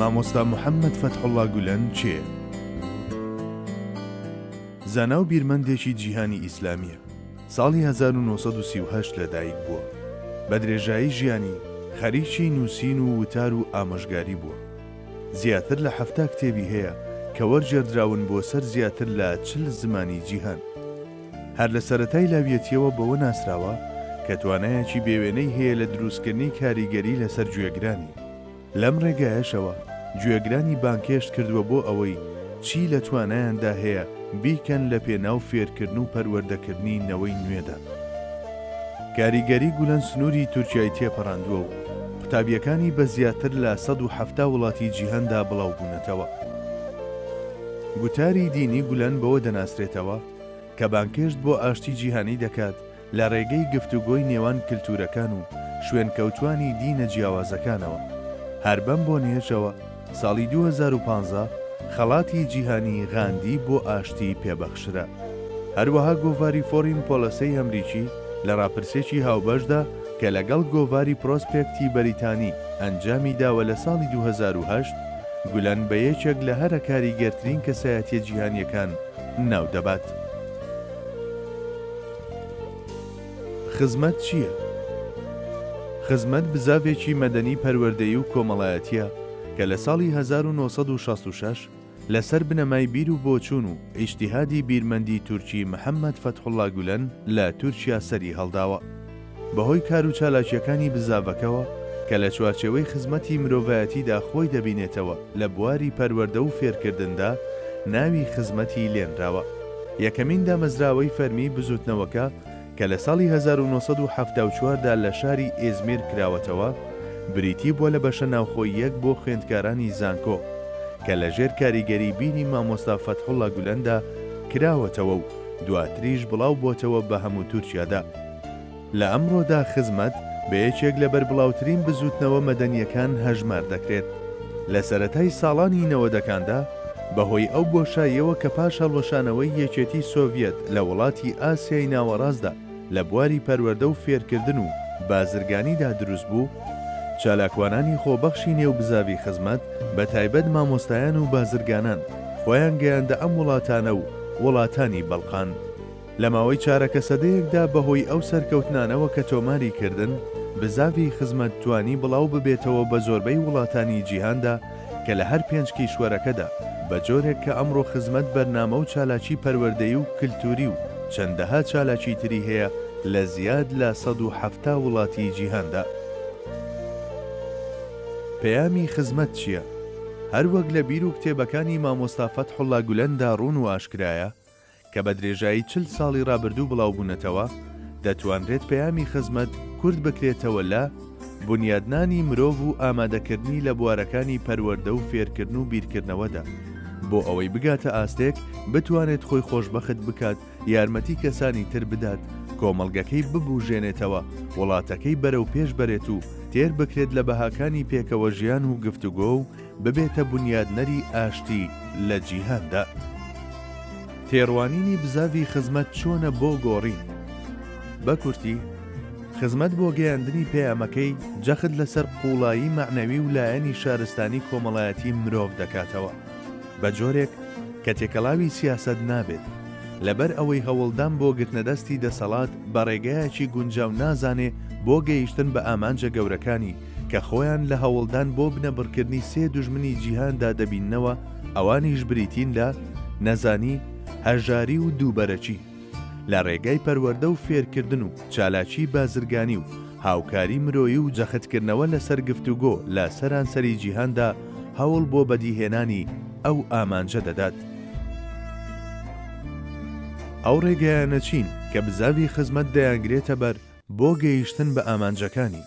مامۆستا محەممەد فەتحوڵا گولەن کێیە؟ زانا و بیرمەندێکی جیهانی ئیسلامییە. ساڵی هەزار و نۆ سەد و سی و هەشت لەدایک بووە. بە درێژایی ژیانی، خەریکی نووسین و وتار و ئامۆژگاری بووە. زیاتر لە حەفتا کتێبی هەیە کە وەرگێڕدراون بۆ سەر زیاتر لە چل زمانی جیهان. هەر لە سەرەتای لاویەتییەوە بەوە ناسراوە کە توانایەکی بێوێنەی هەیە لە دروستکردنی کاریگەری لەسەر گوێگرانی. لەم ڕێگایەشەوە گوێگرانی بانگهێشت کردووە بۆ ئەوەی چی لە توانایاندا هەیە بیکەن لە پێناو فێرکردن و پەروەردەکردنی نەوەی نوێدا. کاریگەری گولەن سنووری تورکیای تێپەڕاندووە و قوتابییەکانی بە زیاتر لە سەد و حەفتا وڵاتی جیهاندا بڵاوبوونەتەوە. گوتاری دینی گولەن بەوە دەناسرێتەوە، کە بانگهێشت بۆ ئاشتی جیهانی دەکات لە رێگەی گفتوگۆی نێوان کلتوورەکان و شوێنکەوتووانی دینە جیاوازەکانەوە. هەر بەم بۆنەیەشەوە ساڵی دوو هەزار و پازدە خەڵاتی جیهانی غاندی بۆ ئاشتی پێبەخشرا. هەروەها گۆڤاری فۆرین پۆلەسەی ئەمریکی لە راپرسێکی هاوبەشدا کە لەگەڵ گۆڤاری پرۆسپێکتی بەریتانی ئەنجامی داوە لە ساڵی دوو هەزار و هەشت گولەن بە یەکێک لە هەرە کاریگەرترین کەسایەتیە جیهانیەکان ناو دەبات. خزمەت چییە؟ خزمەت بزاڤێکی مەدەنی پەروەردەیی و کۆمەڵایەتییە کە لە ساڵی هەزار و نۆ سەد و شەست و شەش لە سەر بنەمای بیر و بۆچوون و ئیجتیهادی بیرمەندی تورکی محەمەد فەتحوڵا گولەن لە تورکیا سەری هەڵداوە. بەهۆی کار و چالاکییەکانی بزاڤەکەوە کە لە چوارچێوەی خزمەتی مرۆڤایەتیدا خۆی دەبینێتەوە لە بواری پەروەردە و فێرکردندا ناوی خزمەتی لێنراوە. یەکەمین دامەزراوەی فەرمی بزوتنەوەکە کە لە ساڵی هەزار و نۆ سەد و حەفتا و چوار دا لە شاری ئیزمیر کراوەتەوە بریتی بووە لە بەشە ناوخۆییەک بۆ خوێندکارانی زانکۆ کە لە ژێر کاریگەری بیری مامۆستا فەتحوڵا گولەندا کراوەتەوە و دواتریش بڵاو بۆتەوە بە هەموو تورکیادا. لە ئەمڕۆدا خزمەت بە یەکێک لە بەربڵاوترین بزووتنەوە مەدەنییەکان هەژمار دەکرێت. لە سەرەتای ساڵانی نەوەدەکاندا، بەهۆی ئەو بۆشاییەوە کە پاش هەڵوەشانەوەی یەکێتی سۆڤیەت لە وڵاتی ئاسیای ناوەڕاستدا لە بواری پەروەردە و فێرکردن و بازرگانیدا دروست بوو، چالاکوانانی خۆبەخشی نێو بزاڤی خزمەت، بە تایبەت مامۆستایان و بازرگانان، خۆیان گەیاندە ئەم وڵاتانە و وڵاتانی بەڵقان. لە ماوەی چارەکە سەدەیەکدا بەهۆی ئەو سەرکەوتنانەوە کە تۆماری کردن، بزاڤی خزمەت توانی بڵاو ببێتەوە بە زۆربەی وڵاتانی جیهاندا کە لە هەر پێنج کیشوەرەکەدا بە جۆرێک کە ئەمڕۆ خزمەت بەرنامە و چالاکی پەروەردەیی و کلتوری و چەندەها چالاکی تری هەیە لە زیاد لە سەد و حەفتا وڵاتی جیهاندا. پەیامی خزمەت چیە؟ هەر وەک لە بیر و کتێبەکانی مامۆستا فەتحوڵا گولەندا ڕوون و ئاشکرایە، کە بە درێژایی چل ساڵی ڕابردوو بڵاوبوونەتەوە، دەتوانرێت پەیامی خزمەت کورت بکرێتەوە لە، بونیادنانی مرۆڤ و ئامادەکردنی لە بوارەکانی پەروەردە و فێرکردن و بیرکردنەوەدا، بۆ ئەوەی بگاتە ئاستێک بتوانێت خۆی خۆشبەخت بکات، یارمەتی کەسانی تر بدات، کۆمەڵگەکەی ببوژێنێتەوە، وڵاتەکەی بەرەوپێش بەرێت و تێر بکرێت لە بەهاکانی پێکەوەژیان و گفتوگۆ و ببێتە بونیادنەری ئاشتی لە جیهاندا. تێڕوانینی بزاڤی خزمەت چۆنە بۆ گۆڕین؟ بە کورتی، خزمەت بۆ گەیاندنی پەیامەکەی، جەخت لەسەر قووڵایی مەعنەوی و لایەنی شارستانی کۆمەڵایەتی مرۆڤ دەکاتەوە، بە جۆرێک کە تێکەڵاوی سیاسەت نابێت، لەبەر ئەوەی هەوڵدان بۆ گرتنەدەستی دەسەڵات بە ڕێگایەکی گونجاو نازانێ بۆ گەیشتن بە ئامانجە گەورەکانی، کە خۆیان لە هەوڵدان بۆ بنەبڕکردنی سێ دوژمنی جیهاندا دەبیننەوە، ئەوانیش بریتین لە، نەزانی، هەژاری و دووبەرەکی. لە ڕێگای پەروەردە و فێرکردن و چالاکیی بازرگانی و هاوکاری مرۆیی و جەختکردنەوە لەسەر گفتوگۆ لە سەرانسەری جیهاندا هەوڵ بۆ بەدیهێنانی ئەو ئامانجە دەدات. ئەو ڕێگایانە چین کە بزاڤی خزمەت دەیانگرێتە بەر بۆ گەیشتن بە ئامانجەکانی؟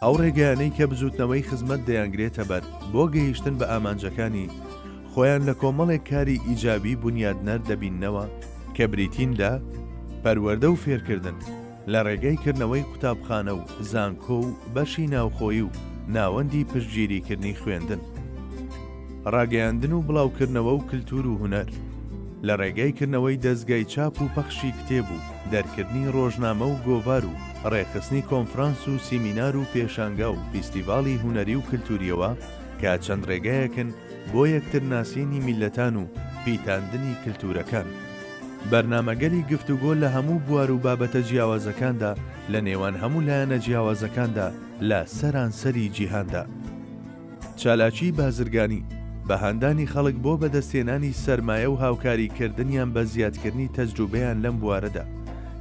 ئەو ڕێگەیانەی کە بزووتنەوەی خزمەت دەیانگرێتەبەر بۆ گەیشتن بە ئامانجەکانی خۆیان لە کۆمەڵێک کاری ئیجابی بونیادنەر دەبیننەوە کە بریتین لە پەروەردە و فێرکردن لە ڕێگای کردنەوەی قوتابخانە و زانکۆ و بەشی ناوخۆیی و ناوەندی پشتگیریکردنی خوێندن ڕاگەیاندن و بڵاوکردنەوە و کللتور و هونەر لە ڕێگای کردنەوەی دەستگای چاپ و پەخشی کتێب و دەرکردنی ڕۆژنامە و گۆڤار و ڕێکخستنی کۆنفرانس و سیمینار و پێشانگا و فیستیڤاڵی هونەری و کلتوریەوە کە چەند ڕێگایەکن بۆ یەکتر ناسینی میللەتان و پیتاندنی کلتورەکان. بەرنامەگەلی گفتوگۆ لە هەموو بوار و بابەتە جیاوازەکاندا لە نێوان هەموو لایەنە جیاوازەکاندا لە سەرانسەری جیهاندا. چالاکی بازرگانی، بە هاندانی خەڵک بۆ بەدەستهێنانی سەرمایە و هاوکاری کردنیان بە زیادکردنی تەجروبەیان لەم بوارەدا،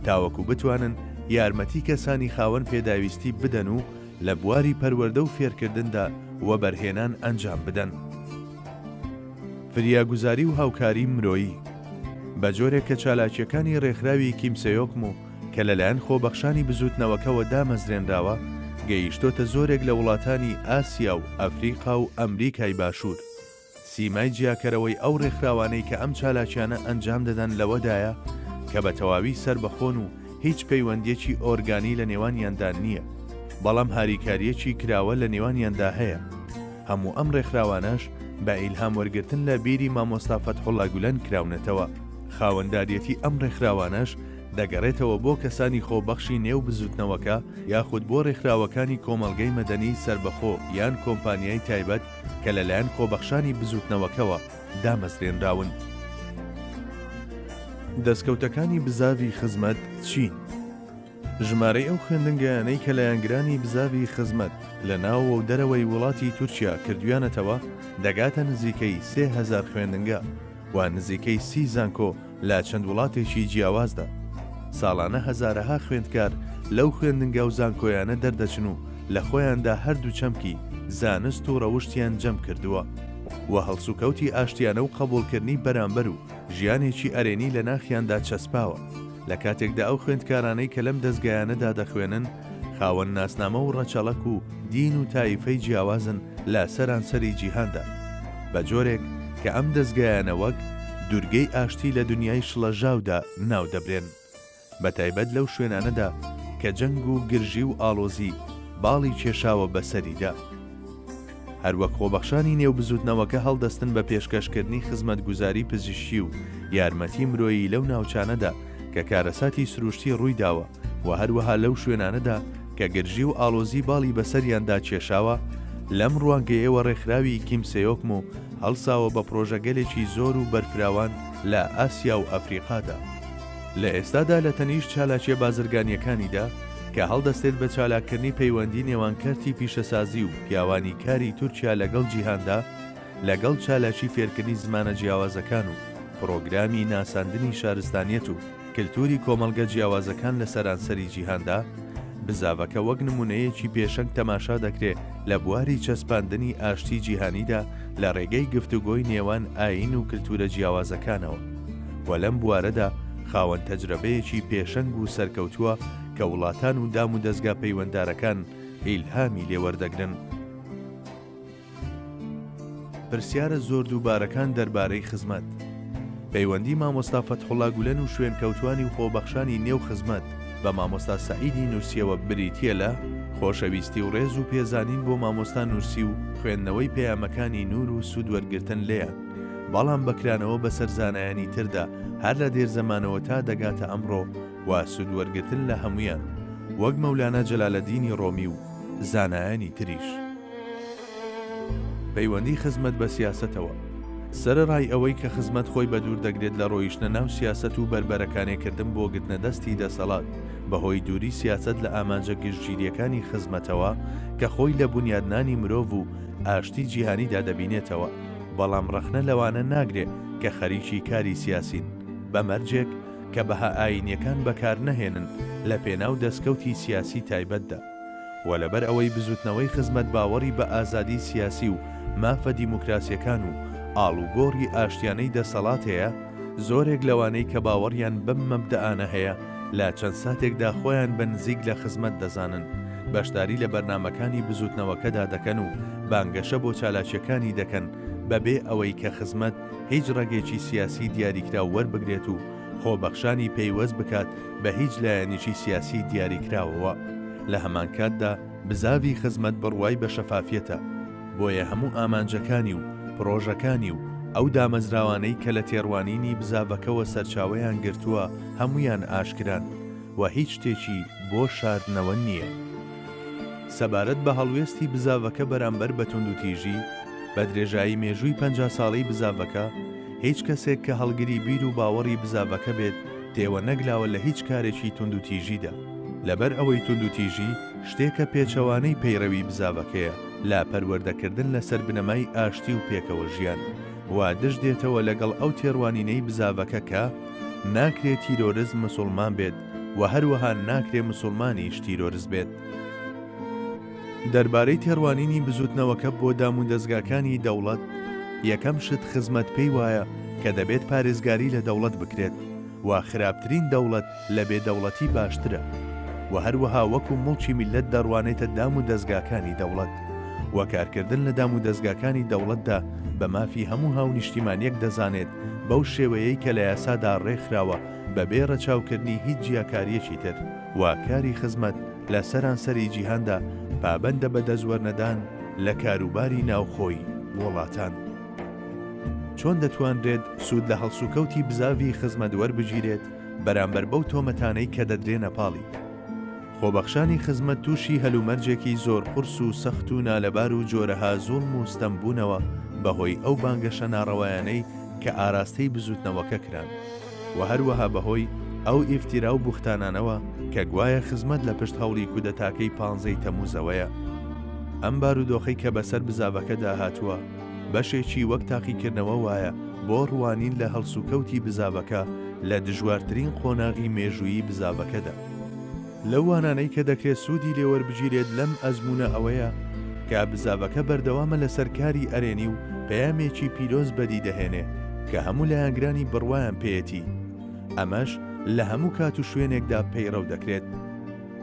تاوەکو بتوانن یارمەتی کەسانی خاوەن پێداویستی بدەن و لە بواری پەروەردە و فێرکردندا وەبەرهێنان ئەنجام بدەن. فریاگوزاری و هاوکاری مرۆیی، بە جۆرێک کە چالاکییەکانی ڕێکخراوی کیم سێۆکم و، کە لەلایەن خۆبەخشانی بزووتنەوەکەوە دامەزرێنراوە، گەیشتۆتە زۆرێک لە وڵاتانی ئاسیا و ئەفریقا و ئەمریکای باشوور. سیمای جیاکەرەوەی ئەو ڕێکخراوانەی کە ئەم چالاکیانە ئەنجام دەدەن لەوەدایە کە بە تەواوی سەربەخۆن و هیچ پەیوەندییەکی ئۆرگانی لە نێوانیاندا نییە، بەڵام هاریکارییەکی کراوە لە نێوانیاندا هەیە. هەموو ئەم ڕێکخراوانەش بە ئیلهام وەرگرتن لە بیری مامۆستا فەتحوڵا گولەن کراونەتەوە. خاوەنداریەتی ئەم ڕێکخراوانەش دەگەڕێتەوە بۆ کەسانی خۆبەخشی نێو بزوتنەوەکە یاخود بۆ رێکخراوەکانی کۆمەڵگەی مەدەنی سەربەخۆ یان کۆمپانیای تایبەت کە لەلایەن خۆبەخشانی بزوتنەوەکەوە دامەزرێنراون. دەستکەوتەکانی بزاڤی خزمەت چین؟ ژمارەی ئەو خوێندنگەیانەی کە لایەنگرانی بزاڤی خزمەت لە ناوەوە و دەرەوەی وڵاتی تورکیا کردویانەتەوە دەگاتە نزیکەی سێ هەزار خوێندنگە و نزیکەی سی زانکۆ، لە چەند وڵاتێکی جیاوازدا، ساڵانە هەزارەها خوێندکار لەو خوێندنگا و زانکۆیانە دەردەچن و لە خۆیاندا هەردوو چەمکی زانست و ڕەوشتیان جەم کردووە و هەڵسوکەوتی ئاشتیانە و قەبوڵکردنی بەرامبەر و ژیانێکی ئەرێنی لە ناخیاندا چەسپاوە لە کاتێکدا ئەو خوێندکارانەی کە لەم دەزگایانەدا دەخوێنن خاوەن ناسنامە و ڕەچەڵەک و دین و تایفەی جیاوازن لە سەرانسەری جیهاندا، بە جۆرێک کە ئەم دەزگایانە وەک، دورگەی ئاشتی لە دونیای شڵەژاودا ناو دەبرێن، بە تایبەت لەو شوێنانەدا کە جەنگ و گرژی و ئاڵۆزی باڵی کێشاوە بەسەریدا. هەروەک خۆبەخشانی نێو بزووتنەوەکە هەڵدەستن بە پێشکەشکردنی خزمەتگوزاری پزیشکی و یارمەتی مرۆیی لەو ناوچانەدا کە کارەساتی سروشتی ڕوویداوە و هەروەها لەو شوێنانەدا کە گرژی و ئاڵۆزی باڵی بەسەریاندا کێشاوە، لەم ڕوانگەیەوە ڕێکخراوی کیم سێۆکمو هەڵساوە بە پڕۆژەگەلێکی زۆر و بەرفراوان لە ئاسیا و ئەفریقادا. لە ئێستادا لە تەنیشت چالاکیە بازرگانیەکانیدا کە هەڵدەستێت بە چالاککردنی پەیوەندی نێوان کەرتی پیشەسازی و پیاوانی کاری تورکیا لەگەڵ جیهاندا لەگەڵ چالاکی فێرکردنی زمانە جیاوازەکان و پڕۆگرامی ناساندنی شارستانیەت و کلتوری کۆمەڵگە جیاوازەکان لە سەرانسەری جیهاندا بزاڤەکە وەک نمونەیەکی پێشەنگ تەماشا دەکرێت لە بواری چەسپاندنی ئاشتی جیهانیدا لە ڕێگەی گفتوگۆی نێوان ئاین و کلتورە جیاوازەکانەوە. و لەم بوارەدا خاوەن تەجرەبەیەکی پێشەنگ و سەرکەوتووە کە وڵاتان و دام و دەزگا پەیوەندارەکان ئیلهامی لێ وەردەگرن. پرسیارە زۆر دووبارەکان دەربارەی خزمەت. پەیوەندی مامۆستا فەتحوڵا گولەن و شوێنکەوتووانی و خۆبەخشانی نێو خزمەت بە مامۆستا سەعیدی نورسییەوە بریتییە لە خۆشەویستی و ڕێز و پێزانین بۆ مامۆستا نورسی و خوێندنەوەی پەیامەکانی نوور و سوود وەرگرتن لێیان. بەڵام بە کرانەوە بەسەر زانایانی تردا هەر لە دێر زەمانەوە تا دەگاتە ئەمڕۆ و سوود وەرگرتن لە هەموویان وەک مەولانا جەلالەدینی ڕۆمی و زانایانی تریش. پەیوەندی خزمەت بە سیاسەتەوە سەرەڕای ئەوەی کە خزمەت خۆی بە دوور دەگرێت لە ڕۆیشتنە ناو سیاسەت و بەربەرەکانێ کردن بۆ گرتنە دەستی دەسەڵات بەهۆی دووری سیاسەت لە ئامانجە گشتگیریەکانی خزمەتەوە کە خۆی لە بنیادنانی مرۆڤ و ئاشتی جیهانیدا دەبینێتەوە بەڵام ڕەخنە لەوانە ناگرێ کە خەریکی کاری سیاسین، بە مەرجێک کە بەها ئایینیەکان بەکار نەهێنن لە پێناو دەسکەوتی سیاسی تایبەتدا. وە لەبەر ئەوەی بزوتنەوەی خزمەت باوەڕی بە ئازادی سیاسی و مافە دیموکراسیەکان و ئاڵوگۆڕی ئاشتیانەی دەسەڵات هەیە، زۆرێک لەوانەی کە باوەڕیان بەم مەبدەئانە هەیە، لە چەند ساتێکدا خۆیان بە نزیک لە خزمەت دەزانن، بەشداری لە بەرنامەکانی بزووتنەوەکەدا دەکەن و بانگەشە بۆ چالاکییەکانی دەکەن بەبێ ئەوەی کە خزمەت هیچ ڕەگێکی سیاسی دیاریکراو وەربگرێت و خۆبەخشانی پەیوەست بکات بە هیچ لایەنێکی سیاسی دیاریکراوەوە. لە هەمانکاتدا بزاڤی خزمەت بڕوای بە شەفافیەتە، بۆیە هەموو ئامانجەکانی و پڕۆژەکانی و ئەو دامەزراوانەی کە لە تێڕوانینی بزاڤەکەوە سەرچاوەیان گرتووە، هەموویان ئاشکران و هیچ شتێکی بۆ شاردنەوە نییە. سەبارەت بە هەڵوێستی بزاڤەکە بەرامبەر بە توندوتیژی، بە درێژایی مێژووی پەنجا ساڵەی بزاڤەکە، هیچ کەسێک کە هەڵگری بیر و باوەڕی بزاڤەکە بێت تێوە نەگلاوە لە هیچ کارێکی توندوتیژیدا، لەبەر ئەوەی توندوتیژی شتێکە پێچەوانەی پەیڕەوی بزاڤەکەیە لە پەروەردەکردن لەسەر بنەمای ئاشتی و پێکەوەژیان و دژ دێتەوە لەگەڵ ئەو تێڕوانینەی بزاڤەکە کە ناکرێ تیرۆرست مسوڵمان بێت و هەروەها ناکرێ مسوڵمانیش تیرۆرست بێت. دەربارەی تێڕوانینی بزووتنەوەکە بۆ دامودەزگاکانی دەوڵەت، یەکەم شت خزمەت پێی وایە کە دەبێت پارێزگاری لە دەوڵەت بکرێت و خراپترین دەوڵەت لە بێ دەوڵەتی باشترە و هەروەها وەکو موڵکی میللەت دەڕوانێتە دامودەزگاکانی دەوڵەت. و کارکردن لە دامودەزگاکانی دەوڵەتدا بە مافی هەموو هاونیشتیمانیەک دەزانێت بەو شێوەیەی کە لە یاسادا ڕێکخراوە بەبێ ڕەچاوکردنی هیچ جیاکاریەکی تر و کاری خزمەت لە سەرانسەری جیهاندا پابەندە بە دەستوەرنەدان لە کاروباری ناوخۆی وڵاتان. چۆن دەتوانرێت سوود لە هەڵسوکەوتی بزاڤی خزمەت وەربگیرێت بەرامبەر بەو تۆمەتانەی کە دەدرێنە پاڵی؟ خۆبەخشانی خزمەت تووشی هەلومەرجێکی زۆر قورس و سەخت و نالەبار و جۆرەها زوڵم و ستەم بوونەوە بە هۆی ئەو بانگەشە ناڕەوایانەی کە ئاراستەی بزووتنەوەکە کران و هەروەها بە هۆی ئەو ئیفتیرا و بوختانانەوە کە گوایە خزمەت لە پشت هەوڵی کودەتاکەی پانزە ی تەمووزەوەیە. ئەم بارودۆخەی کە بەسەر بزاڤەکەدا هاتووە، بەشێکی وەک تاقیکردنەوە وایە بۆ ڕوانین لە هەڵسوکەوتی بزاڤەکە لە دژوارترین قۆناغی مێژوویی بزاڤەکەدا. لەو وانانەی کە دەکرێت سوودی لێوەربگیرێت لەم ئەزموونە ئەوەیە کە بزاڤەکە بەردەوامە لەسەر کاری ئەرێنی و پەیامێکی پیرۆز بەدی دەهێنێ کە هەموو لایەنگرانی بڕوایان پێیەتی ئەمەش لە هەموو کات و شوێنێکدا پەیڕەو دەکرێت.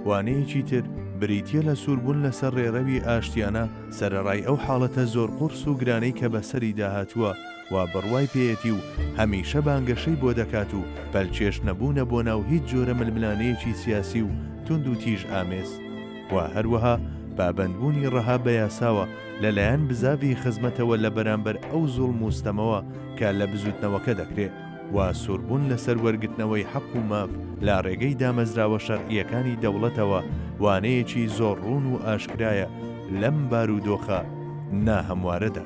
وانەیەکی تر بریتییە لە سووربوون لەسەر ڕێڕەوی ئاشتیانە سەرەڕای ئەو حاڵەتە زۆر قوڕس و گرانەی کە بەسەریدا هاتووە، وا بڕوای پێیەتی و هەمیشە بانگەشەی بۆ دەکات و پەلکێش نەبوونە بۆ ناو هیچ جۆرە ململانێیەکی سیاسی و توندوتیژ ئامێز و هەروەها پابەندبوونی ڕەها بە یاساوە لە لایەن بزاڤی خزمەتەوە لە بەرامبەر ئەو زوڵم و ستەمەوە کە لە بزووتنەوەکە دەکرێ و سووربوون لەسەر وەرگرتنەوەی حەق و ماف لە ڕێگەی دامەزراوە شەرعییەکانی دەوڵەتەوە وانەیەکی زۆر ڕوون و ئاشکرایە لەم بارودۆخە ناهەموارەدا.